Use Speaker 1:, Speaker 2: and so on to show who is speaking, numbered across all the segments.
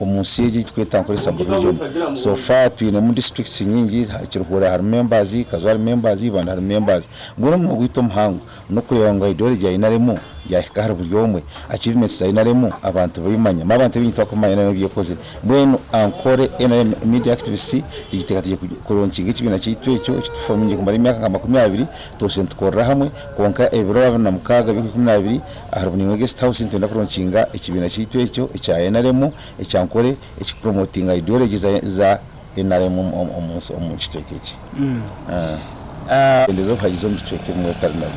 Speaker 1: Omu nsi egi ei turikweta ngu ni Sub-region, so far twinemu districts nyingi, Kiruhura harimu members, Kazo harimu members, Ibanda harimu members. Mbwenu omuhimo gwaitu omuhango n'okureeba ngu ideology ya NRM yaahika ahari buri omwe, achievements za NRM abantu babimanye. Amu abantu baingi tibakubimanya NRM ebi ekozire. Mbwenu Ankole NRM Media Activists tugiteekateekire ku launchinga ekibiina kyaitu ekyo eki tu formingire kumara emyaka nka makumi abiri, twabaire nitukorera hamwe, kwonka ebiro abiri na mukaaga by'okwikumi na bibiri, Aha ruboniino rwa Guest House nitwenda kuronkinga ekibiina kyaitu ekyo ekya nrm ekya Nkore ekiri kupromotinga ideology za za nrm omu omu kicweka eki. Omubeembezi w'obuhagizi omu bicweka ebimwe otari nrm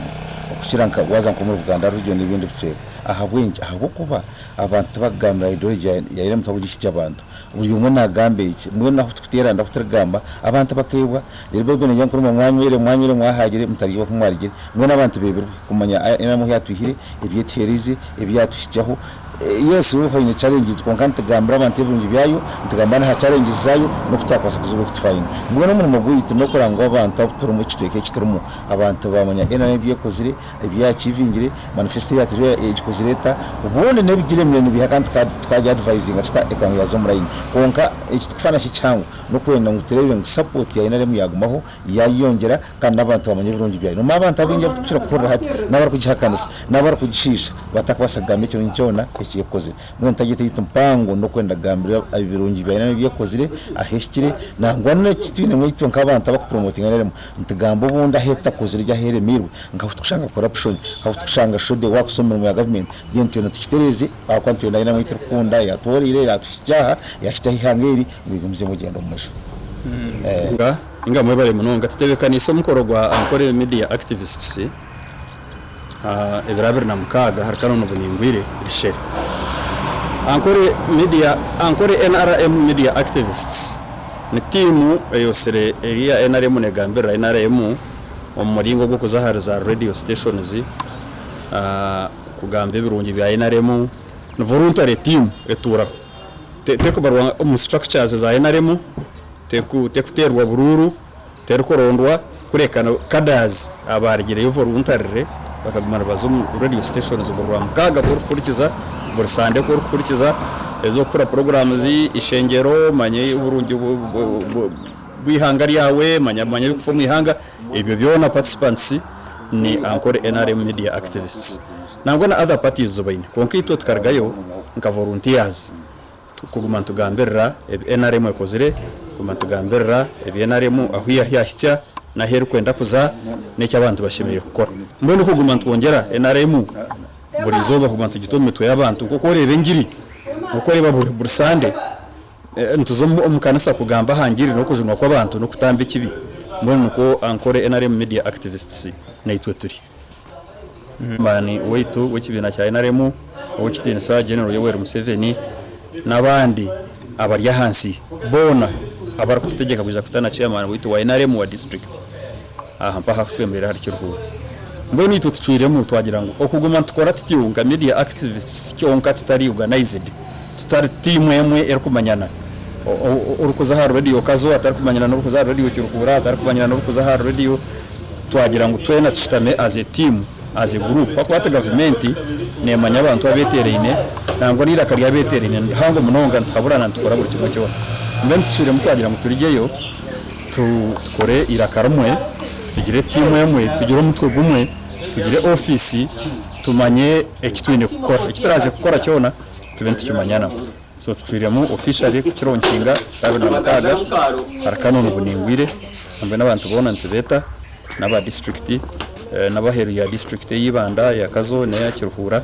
Speaker 1: okukira nka waaza nk'omuri Buganda Region n'ebindi bicweka. Ahabw'enki? Ahabw'okuba abantu tibakugambira ideology ya nrm tibakugihikya abantu. buri omwe nagamba ekye, mbwenu ahu turikuteerana ahu turikugamba abantu bakaibwa, reero Baibuli negira ngu kurumwa mwanywire, mwanywire mwahaagire, mutarya oku mwarigire, mbwenu abantu beebirwe kumanya nari ahu yaatwihire, ebi etuheerize, ebi yaatuhikyaho. Yes hariho haine challenges kwonka nitugambira abantu ebirungi byayo, nitugambira n'aha challenges zaayo n'oku twakubaasa kuziijuka oku tufaayinga. Mbwenu omurimo gwaitu n'okuranga ngu abantu abu turimu, ekicweka eki turimu abantu baamanya NRM ebi ekozire, Ebi yaakivingire, manifesto eya Atelier egikozire eta? Obundi n'ebigire emyanya nibiha kandi tukagya advisinga kita ekwanga ya Zoom Line? Kwonka eki tikufa nakyo ekihango n'okwenda ngu tureebe ngu support ya nrm yaagumaho, yaayeyongyera kandi n'abantu baamanya ebirungi byayo. Nomu abantu abaingi abu turikukira kuhurira hati n'abarikugihakanisa n'abarikugishiisha batakabaasa kugamba ekirungi kyona eki ekozire. Mbwenu target yaitu mpango n'okwenda kugambira ebirungi bya nrm ebi ekozire, ahu ehikire, nangwa n'eki twinemu itwe nk'abantu abarikupromotinga nrm Nitugamba obundi ahu etutakozire gye ahu eremeirwe nka ahu turikushanga corruption nka ahu turikushanga shode waakuza omu mirimo ya government then twena tukitereeze ahabw'okuba nitwenda aine ahu turikukunda yaatwooreire yaatuhikya aha yaahikyaho eihanga eri ngu rigumize omugyendo mumaju. Inga mwebare munonga tutebekanise omukoro gwa Ankole Media Activists. ebiro abiri na mukaaga ahari Canon Buningwire Bishere, Ankore Media Ankore nrm Media Activists ni tiimu eyotsire eri eya nrm neegambirira nrm omu muringo ogw'okuza ahari za Radio Stations kugamba ebirungi bya nrm. Ni voluntary tiimu etuuraho, terikubarwa omu structures za nrm, terikuteerwa buruuru. terikurondwa kureka cadres abaarigire Yoof Oruntarire bakaguma nibaza omu radio stations buri Rwamukaaga ku orikuhurikiza, buri Sande ku orikuhurikiza ezi okukora programs zi ishengyero, manya oburungi bw'eihanga ryawe, manya manya ebirikufa omu ihanga, ebyo byona participants ni Ankore nrm media activists nangwa na other parties zi baine kwonka itwe tukarugayo nkava oruntiyazi. Kuguma nitugambirira ebi nrm ekozire, kuguma nitugambirira ebi nrm ahu yahikya n'ahu erikwenda kuza n'eki abantu bashemereire kukora. Mbwenu kuguma nitwongyera nrm buri izooba kuguma nitugita omu mitwe y'abantu nk'oku oreeba engiri, nk'oku oreeba buri sande nituza omu kanisa kugamba aha ngiri n'okujunwa kw'abantu n'okutamba ekibi, mbwenu nikwo Ankole nrm Media Activists naitwe turi. Omwami waitu w'ekibiina kya nrm ow'ekitiinisa General Yoweri Museveni n'abandi abari ahansi boona abarikututegyeka kwija kuta na chairman waitu wa nrm wa district aha mpaho ahikutwemerera ahari Kiruhura. Mbwenu itwe tucwiremu twagira ngu okuguma nitukora tutyo nka media activists kyonka tutari organized, Tutari tiimu emwe erikumanyana. Orikuza ahari radiyo Kazo atarikumanyana n'orikuza ahari radiyo Kiruhura atarikumanyana n'orikuza ahari radiyo, twagira ngu twena tushutame as a team, as a group ahakuba hati gavumenti neemanya abantu abeeteeraine nangwa n'eiraka ry'abeeteeraine nirihango munonga nituhaburana nitukora buri kimwe kyona. Mbwenu tushwiremu twagira ngu turigyeyo tukore eiraka rimwe, tugire tiimu emwe, tugire omutwe gumwe, tugire ofiisi tumanye eki twine kukora, eki turaaze kukora kyona. tube nitukimanya nabo so tucwiremu officially kukira omu nkinga ya abiri na mukaaga ahari Kanoni Buningwire mbwenu abantu boona nitubeeta n'aba district n'abaheeru ya district eya Ibanda, eya Kazo n'eya Kiruhura.